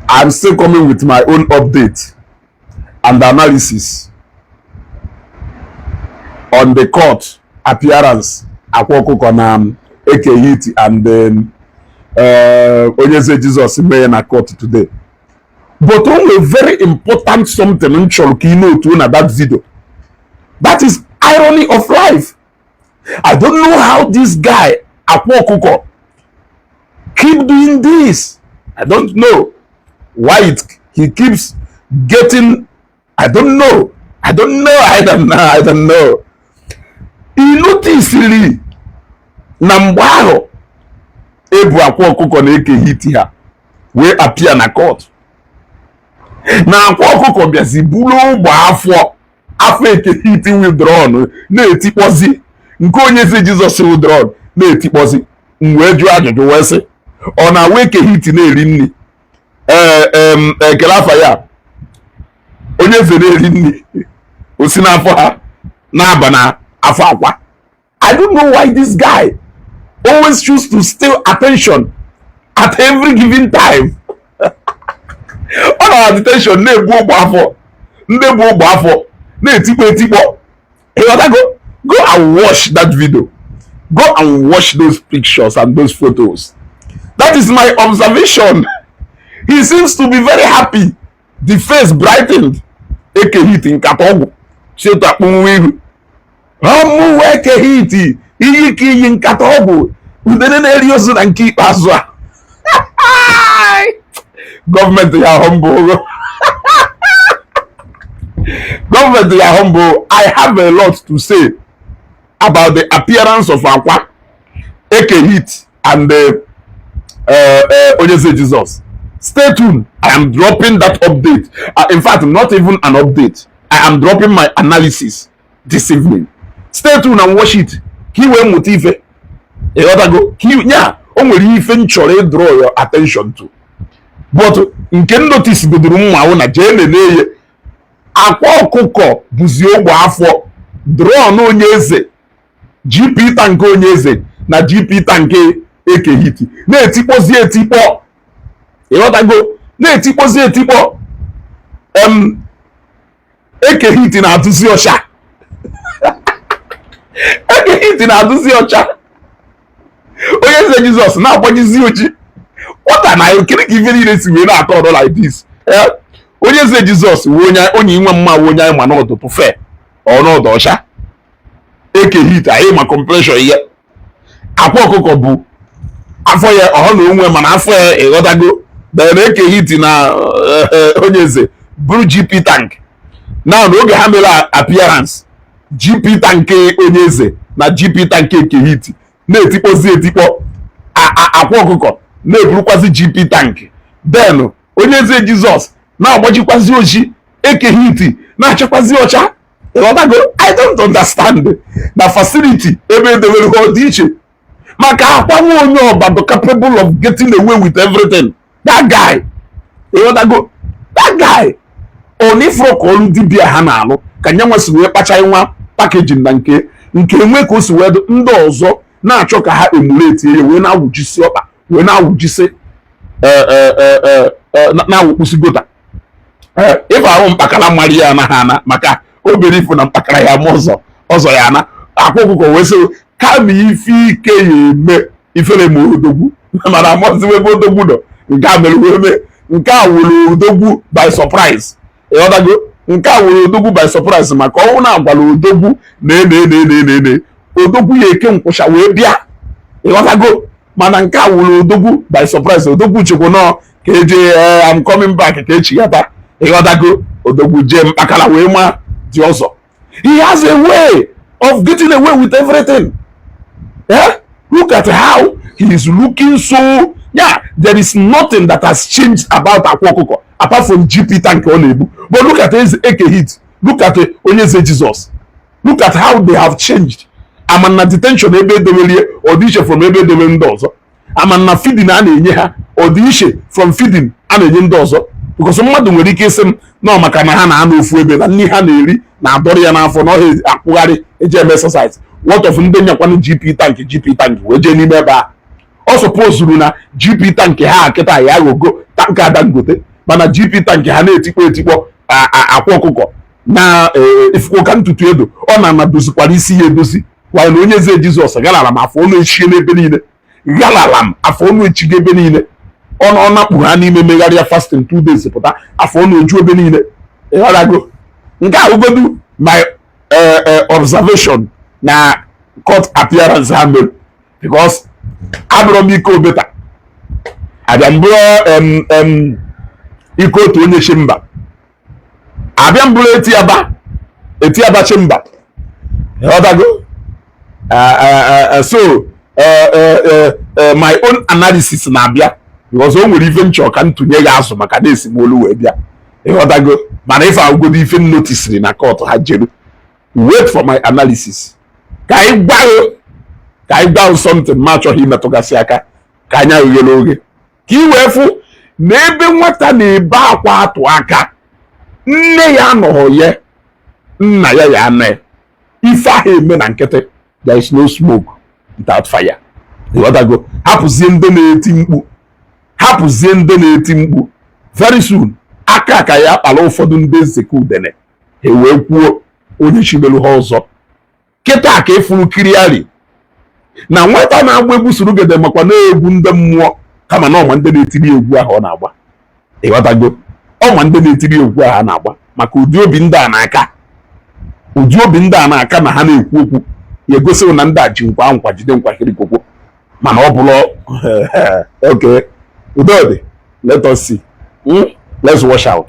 I'm still coming with my own update and analysis on the court appearance akwa ọkụkọ na um, ekehiti and then, uh, onyeze Jesus mee na court today but o nwee very important something m chọrọ ka i notuo na that video that is irony of life I don't know how this guy akwa ọkụkọ keep doing this. I don't know why it, he keeps getting I don't know I don't know I don't know I don't know. Ị notisiri na mgbe ahụ e bu akwa ọkụkọ na ekehiti ha wee appear na court na akwa ọkụkọ bịazi buru ụgbọ afọ afọ ekehiti wụ drum na-etikpọzi nke onye eze jizọs wụ drum na-etikpọzi m wee jụọ ajụjụ wee sị ọ na-awụ eke hit na-eri nni ee kele afa ya onye eze na-eri nni o si n'afọ ha na-aba na afọ akwa I don't know why this guy always choose to steal attention at every given time. ọ nọ na detention na-ebu ụgbọ afọ ndị bu ụgbọ afọ na-etikpọ etikpọ ịghọtago go and watch that video go and watch those pictures and those photos that is my observation he seems to be very happy the face brightened ekehit nkata ọgwụ chetu akpọnwụ ihu ọmụwụ ekehit iyi ka iyi nkata ọgwụ udene na-eri ozu na nke ikpeazụ a gọọmenti ya humble gọọmenti ya humble i have a lot to say about the appearance of akwa ekehit and uh, uh, uh, onyeze Jesus. Stay tuned. I am dropping that update. Uh, in fact, not even an update. I am dropping my analysis this evening. Stay tuned and watch it. Ka i wee mụta ife. Ịghọtago? Yeah o nwere ife m chọrọ ịdraw your attention to. But nke m notice godoro mma wụ na jee nene ya akwa ọkụkọ buzi ụgbọ afọ drum onye eze GP tank onye eze na GP tank ekehiti na-etikpọzi etikpọ ịghọtago na-etikpọzi etikpọ em ekehiti na-adụzi ọcha ekehiti na-adụzi ọcha onye eze jizọs na-agbajizi oji kwọta na ekiri ka ife niile si wee na-atọ ọdọ like this eh? onye eze jizọs onye inwe mma onye anyị ma na ọ dụbu fair or na ọ dụ ọcha eke hit anyị ma complexion ya akwa ọkụkọ bụ afọ ya ọhọ na onwe mana afọ ya ịghọtago den eke hit na eh, eh, onye eze buru gp tank now n'oge ha mere appearance gp tank onye eze na gp tank eke hit na-etikpọzi etikpọ akwa ọkụkọ na-eburukwazi gp tank den onye eze jizọs na-agbajikwazi oji eke hit na-achakwazi ọcha ịghọtago i don't understand na facility ebe edewere ha dị iche maka akwa nwa onye ọba dị capable of getting away with everything that guy ịghọtago that guy ọ na ịfụrọ ka ọrụ dibia ha na-alụ ka nya nwa si wee kpacha nwa packaging na nke nke nwe ka o si wee ndị ọzọ na-achọ ka ha emulate ya wee na-awụjisi ọkpa wee na-awụjisi e, e, e, na-awụkpusi gutter ife ahụ mkpakara mara ya anaghị ana maka obere ifu na mkpakara ya ma ọzọ ya ana akwa ọkụkọ wee sị kama ife ike ya eme ifere ma odogwu mana amazi ebe odogwu nọ nke a mere wee mee nke a wụrụ odogwu by surprise ịghọtago nke a wụrụ odogwu by surprise maka ọ wụ na agwara odogwu na ene ene ene ene ene odogwu ya eke nkwụcha wee bịa ịghọtago mana nke a wụrụ odogwu by surprise odogwu chekwa na ọ ka eje eh, i'm coming back ka echighata ịghọtago odogwu jee mkpakara wee ma dị ọzọ he has a way of getting away with everything eh? look at how he is looking so yeah there is nothing that has changed about akwa ọkụkọ apart from gp tank ọ na-ebu but look at eke hit look at eh, onye eze jesus look at how they have changed ama na detention ebe edewere ya ọ dị iche from ebe edewere ndị ọzọ ama na fidin a na-enye ha ọ dị iche from fidin a na-enye ndị ọzọ because mmadụ nwere ike ịsị m na maka na ha na-anọ ofu ebe na nni ha na-eri na-adọrọ ya n'afọ na ọha akwụgharị eji eme exercise what of ndị nyakwanụ GP tank GP tank wee jee n'ime ebe a ọ sọpozuru na GP tank ha kịta ya aghọgo tanker dangote mana GP tank ha na-etikpọ etikpọ akwa ọkụkọ na e, e, ịfụkwa ka ntutu edo ọ na ana-edozikwara isi ya edozi while onye eze jizọs galara m afọ ọnụ echie n'ebe niile galara m afọ ọnụ echigo ebe niile ọnụ ọ nakpụ ha n'ime megharịa fasting two days pụta afọ ọnụ eju ebe niile ịghọtago nke a wụgodu my eh, eh, observation na court appearance ha mere because abụrụ m ike obeta abịa m bụrụ ike otu onye chi mba abịa m bụrụ etiaba etiaba chimba ịghọtago so my own analysis na-abịa because o nwere ife m chọ ka m tụnye gị azụ maka na esi m ọlụ wee bịa ịghọtago mana ife agụgodo ife m notisiri na court ha jere wait for my analysis ka anyị gwa ka anyị gwa something ma achọghị imetụgasị aka ka anya gị ghere oghe ka ị wee fụ na ebe nwata na-ebe akwa atụ aka nne ya anọghọ ya nna ya ya anọ ife aha eme na nkịtị there is no smoke without fire ịghọtago hapụzie ndị na-eti mkpu hapụzie ndị na-eti mkpu very soon aka ka ya akpara ụfọdụ ndị nzekọ udene ha ewee kwuo onye chibelu ha ọzọ kịta ka ị fụrụ clearly na nwata na-agba egwu surugede makwa na egwu ndị mmụọ kama na ọ ma ndị na-etiri egwu ahụ ọ na-agba ịghọtago ọ ma ndị na-etiri egwu ahụ a na-agba maka ụdị obi ndị a na-aka ụdị obi ndị a na-aka na ha na-ekwu okwu ya egosi gị na ndị a ji nkwa nkwa jide nkwa kirikokwo mana ọ bụrụ okay udo dị let us see hmm? let's watch out